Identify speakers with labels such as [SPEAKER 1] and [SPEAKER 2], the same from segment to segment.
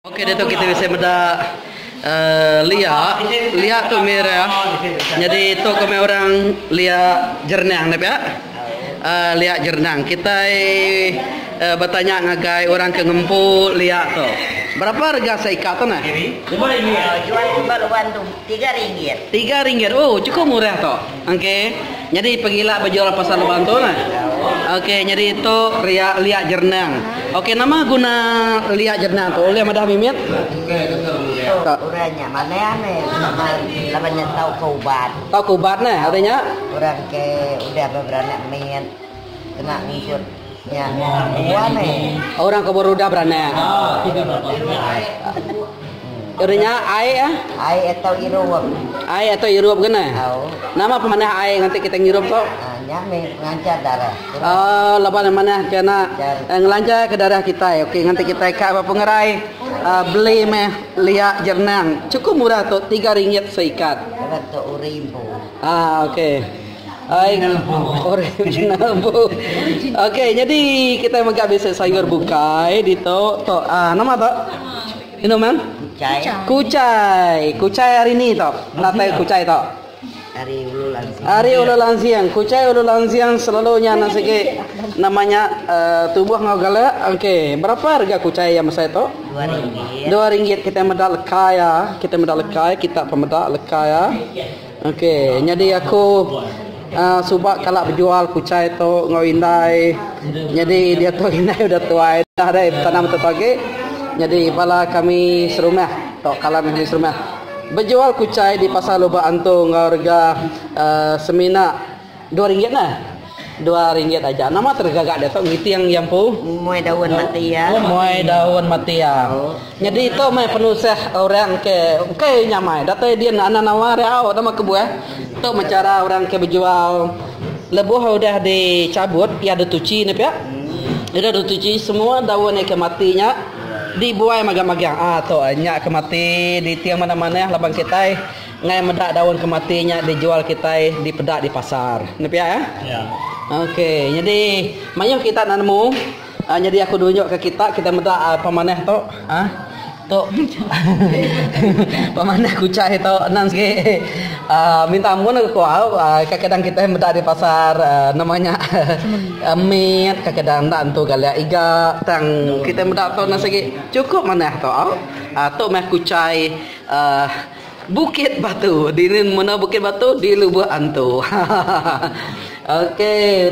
[SPEAKER 1] Ok ditu kita bisi meda lia, lia tu merah nyadi tu komai orang lia jernang dah pia uhh lia jernang kitai uhh betanya ngagai orang ke ngempu lia tu berapa rega seika tu neh uhh jual ba luan
[SPEAKER 2] tu tiga ringgit tiga ringgit uhh
[SPEAKER 1] cukup murah tu. Ok nyadi pengila bejual pasal lubang tu nah ok nyadi tu ria liak jerenang ok nama guna liak jerenang tu ulih madah mimit. Orang
[SPEAKER 2] nya manah ame laban nya tau ke ubat. Tau ke ubat nah
[SPEAKER 1] artinya. Orang ke
[SPEAKER 2] udah beranak mit kena ngikut. Nya nuan meh. Orang ke berudah
[SPEAKER 1] beranak. Udah nya ai ah. Ai atau irup.
[SPEAKER 2] Ai atau irup
[SPEAKER 1] kena. Au. Nama pemanah ai nganti kita ngirup tu? Ah, nya meh ngancar
[SPEAKER 2] darah. Oh, lepas
[SPEAKER 1] mana kena eh, ngelancar ke darah kita. Eh. Okey, nganti kita ka apa pengerai uh, beli meh liak jernang. Cukup murah tu, tiga ringgit seikat. Kalau tu uribu.
[SPEAKER 2] Ah, okey.
[SPEAKER 1] Original book. Okey, jadi kita mega basic sayur bukai di tu. Tu ah, nama tu? Inu mem? Kucai. Kucai. Kucai hari ni tu. Natai kucai tu. Hari Ulu Lansiang. Hari Ulu Lansiang. Kucai Ulu Lansiang selalunya nang sigi namanya uh, tubuh ngau gala. Okey, berapa harga kucai yang besar tu? Dua ringgit. Dua ringgit kita meda lekai ya. Kita meda lekai, kita pemeda lekai ya. Ok nyadi aku suba kala bejual kuchai tu enggau indai nyadi diatu indai udah tuai dah deh betanam atu agi nyadi bala kami serumah tau kala mih ami serumah bejual kuchai di pasar lubak antu enggau rega uhh semina. Dua ringgit nah. Dua ringgit aja. Nama tu gaga dia tu ngiting iya empu? Muai daun mati
[SPEAKER 2] iya. Oh, muai daun
[SPEAKER 1] mati iya. Oh. Nyadi itu mai penusah orang ke ukai nyamai. Datai dia nak anak nawa riau nama kebuah. Tu mencara orang ke berjual lebuh udah dicabut iya ada tuci ni pia. Hmm. Ira ada tuci semua daun yang ke mati nya dibuai magang-magang. Ah tu nya ke mati di tiang mana-mana laban kitai. Ngai meda daun ke mati nya dijual kitai dipeda di pasar. Enda pia eh? Ya. Okey, nyadi mayuh kita enda nemu. Uh, nyadi aku nunjukka kita kita meda uh, pemanah tu. Ah. Uh, tu pemanah kucai tu enam sikit. Uh, minta ampun aku kuau. Uh, kadang-kadang kita meda di pasar uh, nama nya uh, mit, kadang-kadang enda entu galia iga. Tang kita meda tu enam sikit. Cukup manah tu. Uh, tu mah kucai uh, Bukit Batu dini menoa Bukit Batu di Lubok Antu hahaha ok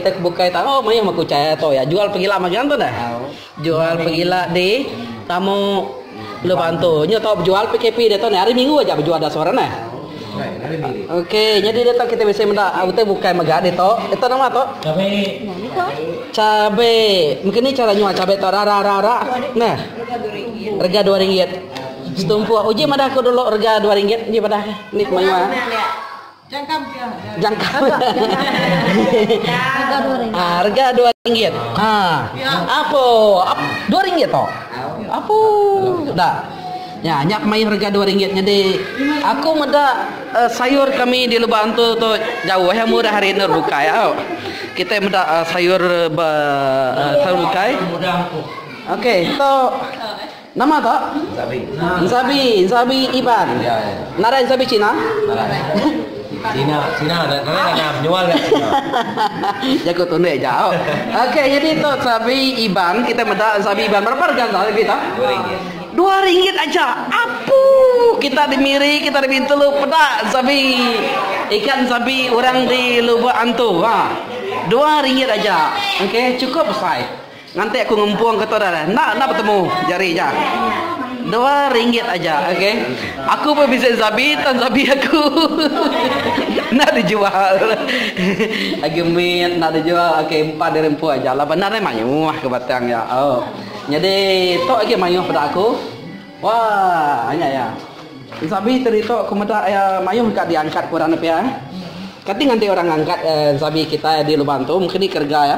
[SPEAKER 1] utai ke bukai tau mayuh mah ke utai tau ya jual pegila magi antu neh jual pegila di tamu Lubok Antu nyu tau bejual PKP dia tau neh hari minggu aja bejual da sore neh ok nyadi dia tau kita bisi meda utai bukai mega dia tau dia tau nama tau cabe mengkini cara nyual cabe tau rara rara neh rega dua ringgit. Setumpuk uji madah aku dulu rega dua ringgit uji madah ke ni kemaya. Jangkam ke. Jangkam. Rega dua ringgit. Ah, rega dua ringgit. Ah. Ya. Apo? Ap, dua ringgit to. Apo? Dah. Ya, nyak mai rega dua ringgit jadi aku meda uh, sayur kami di lubang tu tu jauh ya murah hari nur bukai ya. Kita meda uh, sayur uh, sayur bukai. Okey, so Nama ka? Ensabi. Ensabi, ensabi Iban. Ya, ya. Nadai ensabi Cina? Nadai. Cina,
[SPEAKER 3] Cina ada kena ada penjual kat Cina. Jago
[SPEAKER 1] tunde jauh. Okey, jadi tu ensabi Iban, kita meda ensabi Iban. Berapa harga ensabi kita? Dua ringgit aja. Apu kita di Miri, kita di Bintulu peda ensabi. Ikan ensabi orang di Lubuk Antu. Ha. Dua ringgit aja. Okey, cukup besar. Nganti aku ngempung ke tu dah dah. Enda enda betemu jari aja. Dua ringgit aja okey. Aku pun visit Zabi tang Zabi aku. Enda dijual. Agi mit enda dijual. Okey empat diri empu aja lah bandar ni mayuh ke batang ya. Oh. Jadi tu agi mayuh pada aku. Wah, anya ya. Zabi tadi tu aku meda ya mayuh ka diangkat ku orang nepia. Kati nganti orang angkat eh, Zabi kita di lubang tu mungkin ni kerega ya.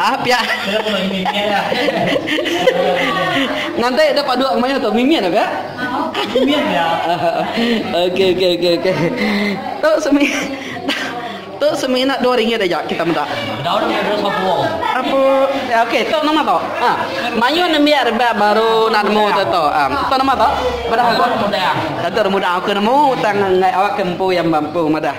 [SPEAKER 3] Ah pia.
[SPEAKER 1] Ngantai dah paduk ke mayuh tu mimit dah pia. Mimit
[SPEAKER 3] pia. Okey
[SPEAKER 1] okey okey okey. Tu semi Tu semina dua ringgit aja kita minta. Daun ni ada satu
[SPEAKER 3] wong. Apa?
[SPEAKER 1] Ya, okey, tu nama tu. Ha. Mayu nembiak rebak baru nak nemu tu tu. Ha. Tu nama tu? Pada aku muda. Kata
[SPEAKER 3] muda aku
[SPEAKER 1] nemu tang ngai awak kempu yang mampu madah.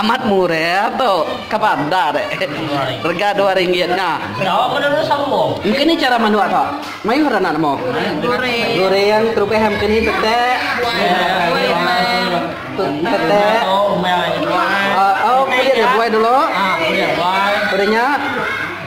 [SPEAKER 1] Amat murah tu ke bandar rega dua ringgit nya. Engke
[SPEAKER 3] ni chara manuk tu
[SPEAKER 1] mayuh ra anak nemu. Goreng terubah iya mengke ni tetek. Tetek. Au au pia dia buai dulu. Pia nya.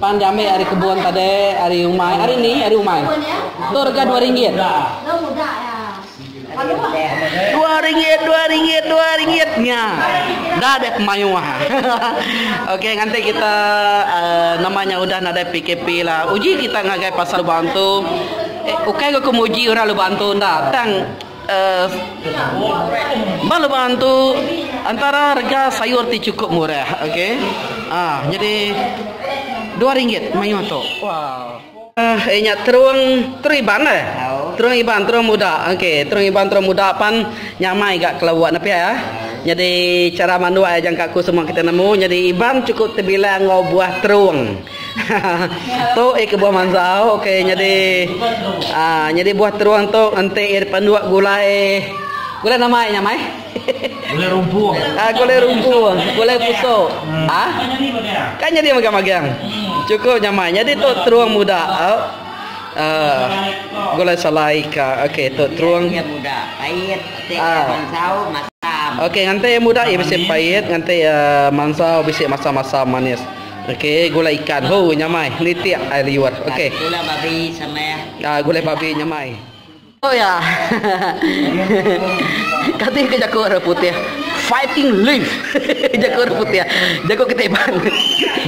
[SPEAKER 1] Pan diambil ari kebun tadi, ari umai. Ari ni, ari umai. Tu rega dua ringgit. Dua ringgit, dua ringgit, dua ringgit. Nya. Dah dek mayuh. Okey, nganti kita uh, namanya udah nadai PKP lah. Uji kita ngagai pasal lubang tu. Eh, ukai okay, aku muji orang lubang tu ndak. Tang Ba lubang tu antara rega sayur ti chukup murah okey aaa nyadi dua ringgit mayuh tu aaa eh nya terung terung iban eh terung iban terung muda okey terung iban terung muda pan nyamai ga kelua ne pia eh nyadi chara manduk eh jangka ku semua kita nemu nyadi iban chukup tebilang enggau buah terung. tu eh ke buah manzau okey nyadi ah nyadi buah terung tu enti eh panduk gulai gulai nama nya mai gulai
[SPEAKER 3] rumpung ah gulai rumpung
[SPEAKER 1] gulai pusok hmm. ah kan nyadi magang-magang hmm. cukup nya mai nyadi tu terung muda oh. Uh, gulai salai ka okey tu terung yang muda pahit
[SPEAKER 2] tek ah. manzau masam okey ngantai
[SPEAKER 1] muda ia bisi pahit ngantai uh, manzau bisi masam-masam manis Okey gulai ikan hoo nyamai nitik ai liur okey. Gulai babi
[SPEAKER 2] samai ah. Ah gulai babi nyamai.
[SPEAKER 1] Oh ya. Kati ke jaku orang putih fighting leaf jaku orang putih jaku kita iban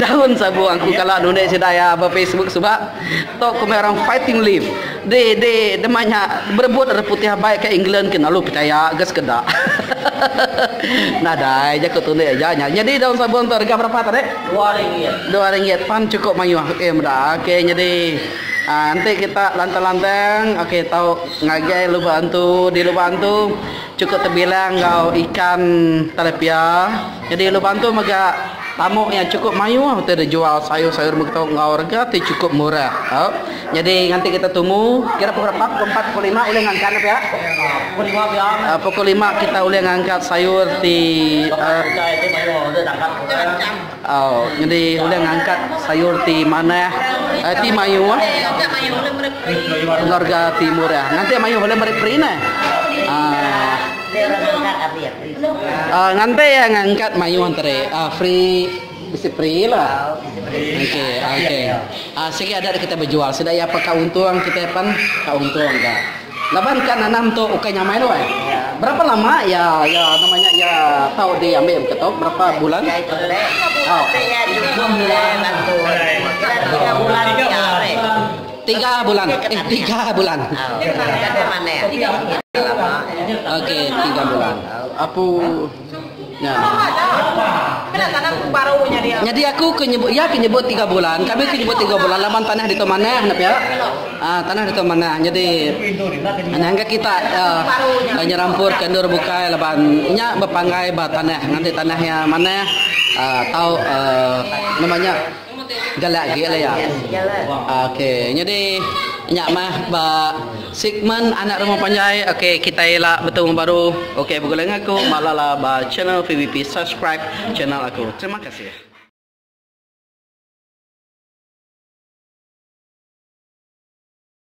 [SPEAKER 1] daun sabung aku kala nulis sida ya ba facebook suba. Tok komik orang fighting live. Di di dema nya berebut orang putih abai ke England kena lu pechaya ga sekeda. Nadai jaku tu enda eja nya. Nyadi daun sabun tu rega berapa tu dek? Dua ringgit.
[SPEAKER 3] Dua ringgit pan
[SPEAKER 1] cukup mayuh okey meda ok nyadi aaa enti kita lantang-lantang okey tau ngagai lubang antu di lubang antu. Chukup tebilang enggau ikan telepia. Nyadi ulu Bantu mega tamu iya chukup mayuh utai deh jual sayur-sayur mega tu enggau rega ti chukup murah. Au. Nyadi nganti kita tumu kira pukul apat, pukul empat, pukul lima ulih ngangkat ne pia. Pukul lima pia. Au pukul lima kita ulih ngangkat sayur ti aaa. Utai ti mayuh deh dapat. Nyadi ulih ngangkat sayur ti manah, ti mayuh enggau rega ti murah ngambika mayuh ulih meri perinah. Nganti iya ngangkat mayuh enteri free bisi free la. Sigi ada kitai bejual sida iya peka untung kitai pen ka untung ka. Laban ka nanam tu ukai nyamai doi. Berapa lama iya iya nama nya iya tau di ambi mega tu berapa bulan.
[SPEAKER 2] Tiga
[SPEAKER 1] bulan eh tiga bulan. Okey tiga bulan. Apu. Nyadi aku ke nyebut iya ke nyebut tiga bulan kami ke nyebut tiga bulan laban tanah ditu manah enda pia aaa tanah ditu manah nyadi nyangka kita aaa nyerampur ka endur bukai laban nya bepanggai ba tanah ngambika tanah iya manah aaa tau aaa nama nya. Galak agi leh iya. Ok nyadi nya mah ba segmen anak rumah panjai ok kitai ila betemu baru ok begulai enggau aku ba lala ba channel PVP subscribe channel aku terima kasih.